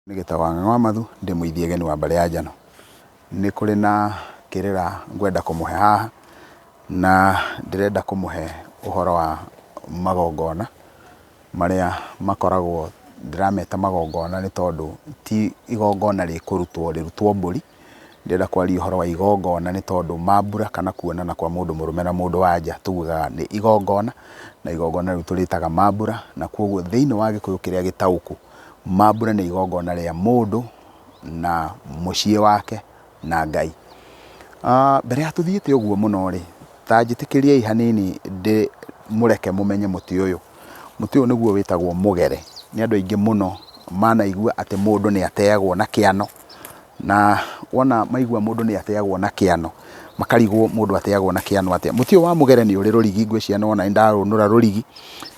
Nĩ gĩta wa ng'ang'a wa mathu ndĩ mũithi egeni wa mbarĩ ya njano. Nĩ kũrĩ na kĩrĩra ngwenda kũmũhe haha, na ndĩrenda kũmũhe ũhoro wa magongona marĩa makoragwo ndĩrameta magongona nĩ tondũ ti igongona rĩkũrutwo rĩrutwo mbũri, ndĩrenda kwaria ũhoro wa igongona nĩ tondũ mambura kana kuonana kwa mũndũ mũrũme na mũndũ wa nja tugaga nĩ igongona, na igongona rĩu tũrĩtaga mambura. Na kũguo thĩiniĩ wa gĩkũyũ kĩrĩa gĩtaũku, mambura nĩ igongona rĩa mũndũ na mũciĩ wake na Ngai. Mbere ya tũthiĩte ũguo mũno rĩ, ta njĩtĩkĩriai hanini ndĩmũreke mũmenye mũtĩ ũyũ. Mũtĩ ũyũ nĩguo wĩtagwo mũgere. Nĩ andũ aingĩ mũno manaigua atĩ mũndũ nĩ ateagwo na kĩano, Na wona maigua mũndũ nĩ ateagwo na kĩano, makarigwo mũndũ ateagwo na kĩano atĩa. Mũtĩ ũyũ wa mũgere nĩ ũrĩ rũrigi, ngwĩciria nĩ wona nĩ ndarũnũra rũrigi,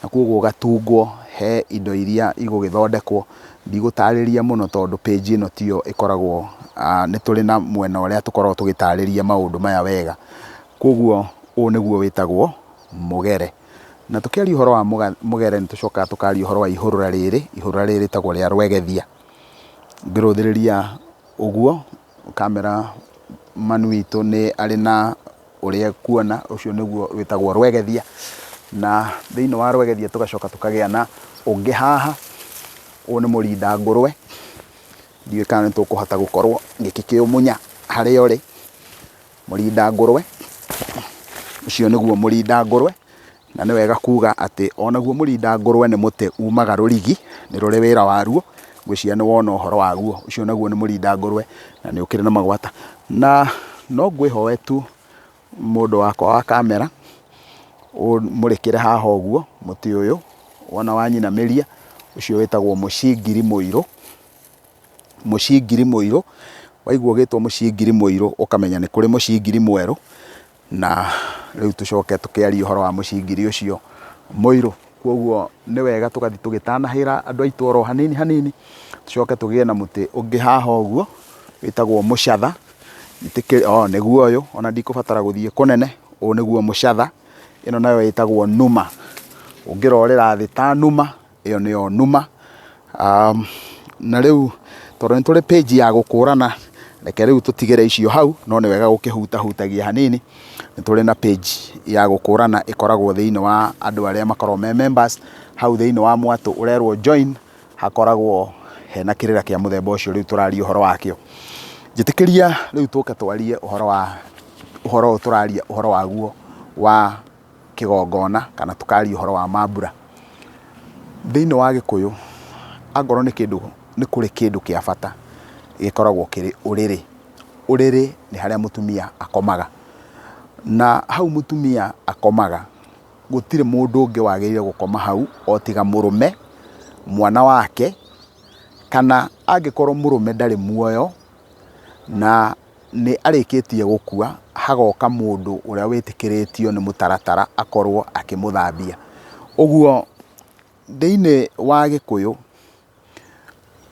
na kũguo ũgatungwo he indo iria igũgĩthondekwo. Ndigũtarĩria mũno tondũ page ĩno tiyo ĩkoragwo, nĩ tũrĩ na mwena ũrĩa tũkoragwo tũgĩtarĩria maũndũ maya wega. Kũguo ũyũ nĩguo wĩtagwo mũgere. Na tũkĩaria ũhoro wa mũgere nĩ tũcokaga tũkaria ũhoro wa ihũrũra rĩrĩ, ihũrũra rĩrĩ rĩtagwo rĩa rwegethia. Ngĩrũthĩrĩria ũguo, ũkamera mami witũ nĩ arĩ na ũrĩa ekuona, ũcio nĩguo wĩtagwo rwegethia, na thĩiniĩ wa rwegethia tũgacoka tũkagĩa na ũngĩ haha, ũyũ nĩ mũrinda ngũrũe, ndiũĩ kana nĩ tũkũhota gũkorwo ngĩkĩũmunya harĩa ũrĩ. Mũrinda ngũrwe, ũcio nĩguo mũrinda ngũrwe, na nĩ wega kuuga atĩ o naguo mũrinda ngũrwe nĩ mũtĩ uumaga rũrigi, nĩ rũrĩ wĩra waruo, ngwĩciria nĩ wona ũhoro waguo, ũcio naguo nĩ mũrinda ngũrwe na nĩ ũkĩrĩ na magwata. Na no ngwĩhoe tu mũndũ wakwa wa kamera, ũmũrĩkĩre haha ũguo mũtĩ ũyũ, wona wanyinamĩria, ũcio wĩtagwo mũcingiri mũirũ. Mũcingiri mũirũ, waigua ũgĩtwo mũcingiri mũirũ ũkamenya nĩ kũrĩ mũcingiri mwerũ, na rĩu tũcoke tũkĩarie ũhoro wa mũcingiri ũcio mũirũ. Kwoguo nĩ wega tũgathiĩ tũgĩtanahĩra andũ aitũ oro hanini hanini, tũcoke tũgĩe na mũtĩ ũngĩ haha ũguo wĩtagwo mũcatha, oo nĩguo ũyũ, ona ndikũbatara gũthiĩ kũnene, ũyũ nĩguo mũcatha, ĩno nayo ĩtagwo numa, ũngĩrorĩra thĩ ta numa. Ĩyo nĩyo numa. Na rĩu tondũ nĩ tũrĩ page ya gũkũrana, reke rĩu tũtigĩre icio hau, no nĩ wega gũkĩhutahutagia hanini. Nĩ tũrĩ na page ya gũkũrana ĩkoragwo thĩinĩ wa andũ arĩa makoragwo me members, hau thĩinĩ wa mwatũ ũrerwo join, hakoragwo hena kĩrĩra kĩa mũthemba ũcio rĩu tũraria ũhoro wakĩo. Njĩtĩkĩria rĩu tũke twarie ũhoro wa, ũhoro ũyũ tũraria ũhoro waguo wa... kĩgongona kana tũkaria ũhoro wa mambura. Thĩinĩ wa Gĩkũyũ, angorwo nĩ kĩndũ, nĩ kũrĩ kĩndũ kĩa bata gĩkoragwo kĩrĩ ũrĩrĩ. Ũrĩrĩ nĩ harĩa mũtumia akomaga, na hau mũtumia akomaga, gũtirĩ mũndũ ũngĩ wagĩrĩire gũkoma hau o tiga mũrũme, mwana wake, kana angĩkorwo mũrũme ndarĩ muoyo... Na nĩ arĩkĩtie gũkua, hagoka mũndũ ũrĩa wĩtĩkĩrĩtio nĩ mũtaratara akorwo akĩmũthambia. Ũguo thĩiniĩ wa Gĩkũyũ,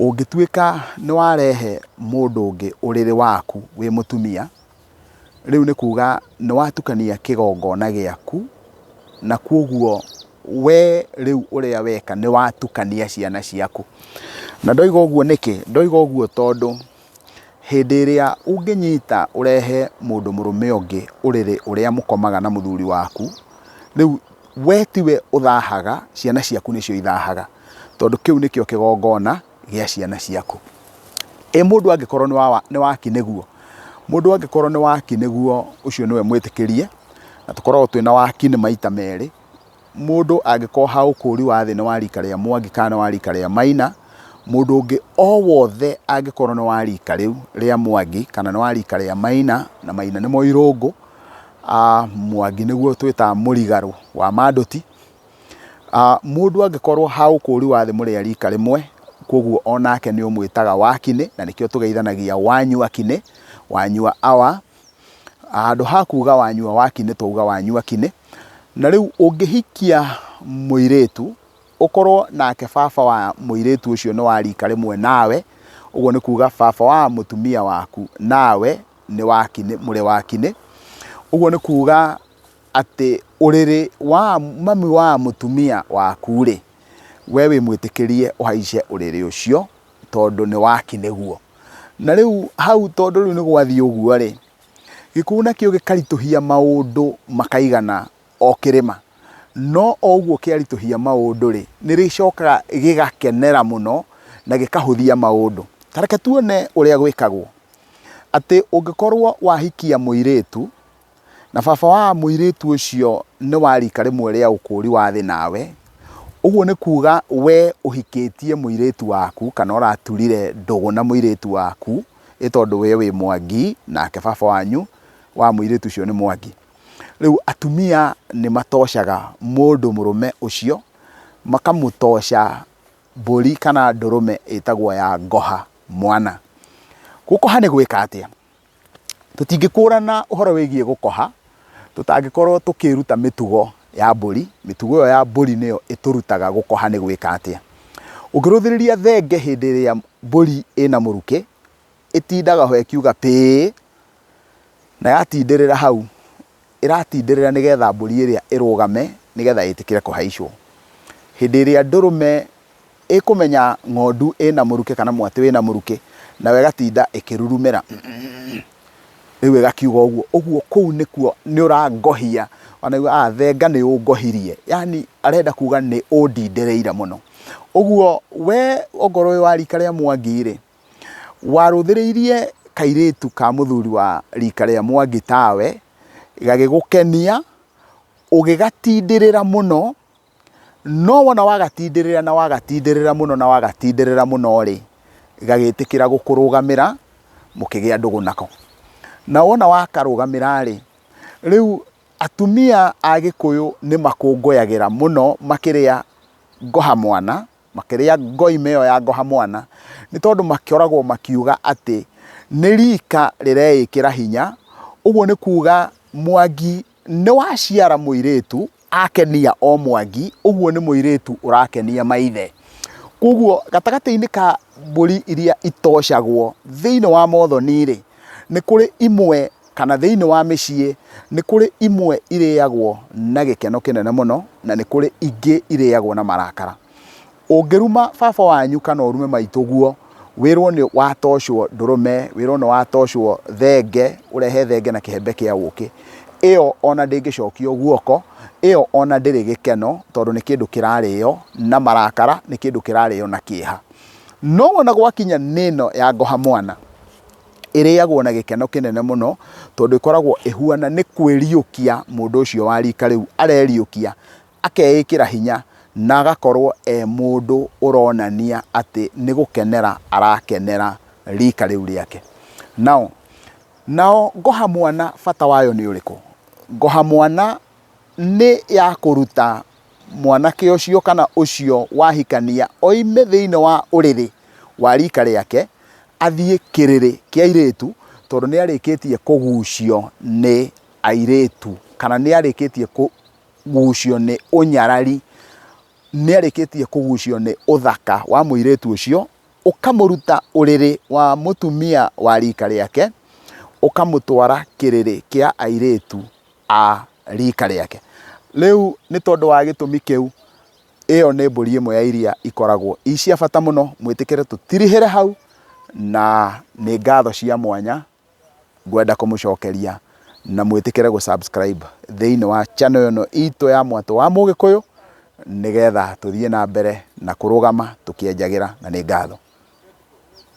ũngĩtuĩka nĩ warehe mũndũ ũngĩ ũrĩrĩ waku wĩ mũtumia... rĩu nĩ kuga nĩ watukania kĩgongona gĩaku, na kwoguo wee rĩu ũrĩa weka nĩ watukania ciana ciaku. Na ndoiga ũguo nĩkĩ? Ndoiga ũguo tondũ hĩndĩ ĩrĩa ũngĩnyita ũrehe mũndũ mũrũme ũngĩ ũrĩrĩ ũrĩa mũkomaga na mũthuri waku, rĩu we tiwe ũthahaga, ciana ciaku nĩcio ithahaga tondũ kĩu nĩkĩo kĩgongona gĩa ciana ciaku. Ĩ mũndũ angĩkorwo nĩ waki nĩguo? Mũndũ angĩkorwo nĩ waki nĩguo ũcio nĩwe mwĩtĩkĩrie, na tũkoragwo twĩna waki nĩ maita merĩ. Mũndũ angĩkorwo ha ũkũũri wa thĩ nĩ wa rika rĩa Mwangi kana nĩ wa rika rĩa Maina, mũndũ ũngĩ o wothe angĩkorwo nĩ wa rika rĩu rĩa Mwangi kana nĩ wa rika rĩa Maina, na Maina nĩmo irũngũ, Mwangi nĩguo twĩtaga mũrigarũ wa Manduti, Ah, mũndũ angĩkorwo ha ũkũũri wa thĩ mũrĩa rika rĩmwe, kwoguo o nake nĩ ũmwĩtaga wakinĩ, na nĩkĩo tũgeithanagia wanyua kinĩ, wanyua awa. Handũ ha kuuga wanyua wakinĩ, twauga wanyua kinĩ. Na rĩu ũngĩhikia mũirĩtu, ũkorwo nake baba wa mũirĩtu ũcio nĩ wa rika rĩmwe nawe, ũguo nĩ kuuga baba wa mũtumia waku nawe nĩ wakinĩ, mũrĩ wakinĩ. Ũguo nĩ kuuga atĩ ũrĩrĩ wa mami wa mũtumia waku-rĩ, we wĩmwĩtĩkĩrie ũhaice ũrĩrĩ ũcio tondũ nĩ waki nĩguo. Na rĩu hau tondũ rĩu nĩgwathiĩ ũguo-rĩ, gĩkuũ nakĩo gĩkaritũhia maũndũ makaigana o kĩrĩma. No o ũguo kĩaritũhia maũndũ-rĩ, nĩrĩcokaga gĩgakenera mũno na gĩkahũthia maũndũ. Ta reke tuone ũrĩa gwĩkagwo, atĩ ũngĩkorwo wahikia mũirĩtu. Na baba wa mũirĩtu ũcio nĩ wa riika rĩmwe rĩa ũkũũri wa thĩ nawe, ũguo nĩ kuuga wee ũhikĩtie mũirĩtu waku, kana ũraturire ndũgũ na mũirĩtu waku, ĩ tondũ wee wĩ mwangi, nake baba wanyu wa mũirĩtu ũcio nĩ mwangi. Rĩu atumia nĩ matoocaga mũndũ mũrũme ũcio, makamũtooca mbũri kana ndũrũme ĩtagwo ya ngoha mwana. Gũkoha nĩ gwĩka atĩa? Tũtingĩkũrana ũhoro wĩgiĩ gũkoha tũtangĩkorwo tũkĩĩruta mĩtugo ya mbũri. Mĩtugo ĩyo ya mbũri nĩyo ĩtũrutaga gũkoha nĩ gwĩka atĩa. Ũngĩrũthĩrĩria thenge hĩndĩ ĩrĩa mbũri ĩna mũrukĩ, ĩtindaga ho ĩkiuga pĩĩ, na yatindĩrĩra hau ĩratindĩrĩra nĩgetha mbũri ĩrĩa ĩrũgame nĩgetha ĩtĩkĩre kũhaicwo. Hĩndĩ ĩrĩa ndũrũme ĩkũmenya ng'ondu ĩna mũrukĩ kana mwatĩ wĩna mũrukĩ, nayo ĩgatinda ĩkĩrurumĩra mm rĩu ĩgakiuga ũguo, ũguo kũu nĩkuo nĩũrangohia, ũkona thenga nĩũngohirie, yaani arenda kuga nĩũndindĩrĩire mũno. Ũguo we okorwo wĩ wa rika rĩa Mwangi-rĩ. warũthĩrĩirie kairĩtu ka mũthuri wa rika rĩa Mwangi tawe, gagĩgũkenia, ũgĩgatindĩrĩra mũno, no wona wagatindĩrĩra na wagatindĩrĩra mũno na wagatindĩrĩra mũno rĩ, gagĩtĩkĩra gũkũrũgamĩra, mũkĩgĩa ndũgũ nako. Na wona wakarũgamĩra rĩ, rĩu atumia a Gĩkũyũ nĩ makũngũyagĩra mũno makĩrĩa ngoha mwana, Makĩrĩa ngoima ĩyo ya ngoha mwana nĩ tondũ makĩoragwo makiuga atĩ nĩ rika rĩreĩkĩra hinya, ũguo nĩ kuuga Mwangi nĩ waciara mũirĩtu akenia o Mwangi, ũguo nĩ mũirĩtu ũrakenia maithe. Kwoguo gatagatĩ-inĩ ka mbũri iria itocagwo thĩinĩ wa Mothoni-rĩ, nĩ kũrĩ imwe kana thĩinĩ wa mĩciĩ, nĩ kũrĩ imwe irĩagwo na gĩkeno kĩnene mũno, na nĩ kũrĩ ingĩ irĩagwo na marakara. Ũngĩruma baba wanyu kana ũrume maitũguo, wĩrwo nĩ watocwo ndũrũme, wĩrwo nĩ watocwo thenge, ũrehe thenge na kĩhembe kĩa ũkĩ, ĩyo ona ndĩngĩcokio guoko, ĩyo ona ndĩrĩ gĩkeno, tondũ nĩ kĩndũ kĩrarĩo na marakara, nĩ kĩndũ kĩrarĩo na kĩeha. No wona gwakinya nĩ ĩno ya ngoha mwana, ĩrĩagwo na gĩkeno kĩnene mũno tondũ ĩkoragwo ĩhuana nĩ kwĩriũkia mũndũ ũcio wa rika rĩu areriũkia, akeĩkĩra hinya na agakorwo e mũndũ ũronania atĩ nĩ gũkenera arakenera rika rĩu rĩake. Now, nayo ngoha mwana bata wayo nĩ ũrĩkũ? Ngoha mwana nĩ ya kũruta mwanake ũcio kana ũcio wahikania oime thĩinĩ wa ũrĩrĩ wa rika rĩake athiĩ kĩrĩrĩ kĩa airĩtu tondũ nĩ arĩkĩtie kũgucio nĩ airĩtu kana nĩ arĩkĩtie kũgucio nĩ ũnyarari, nĩ arĩkĩtie kũgucio nĩ ũthaka wa mũirĩtu ũcio, ũkamũruta ũrĩrĩ wa mũtumia wa rika rĩake, ũkamũtwara kĩrĩrĩ kĩa airĩtu. a riika rĩake. Rĩu nĩ tondũ wa gĩtũmi kĩu, ĩyo nĩ mbũri ĩmwe ya iria ikoragwo i cia bata mũno. Mwĩtĩkĩre tũtirihĩre hau, na nĩ ngatho cia mwanya ngwenda kũmũcokeria, na mwĩtĩkĩre gũ subscribe thĩinĩ wa channel ĩno itũ ya Mwatũ wa Mũgĩkũyũ, nĩgetha tũthiĩ na mbere na kũrũgama tũkĩenjagĩra, na nĩ ngatho.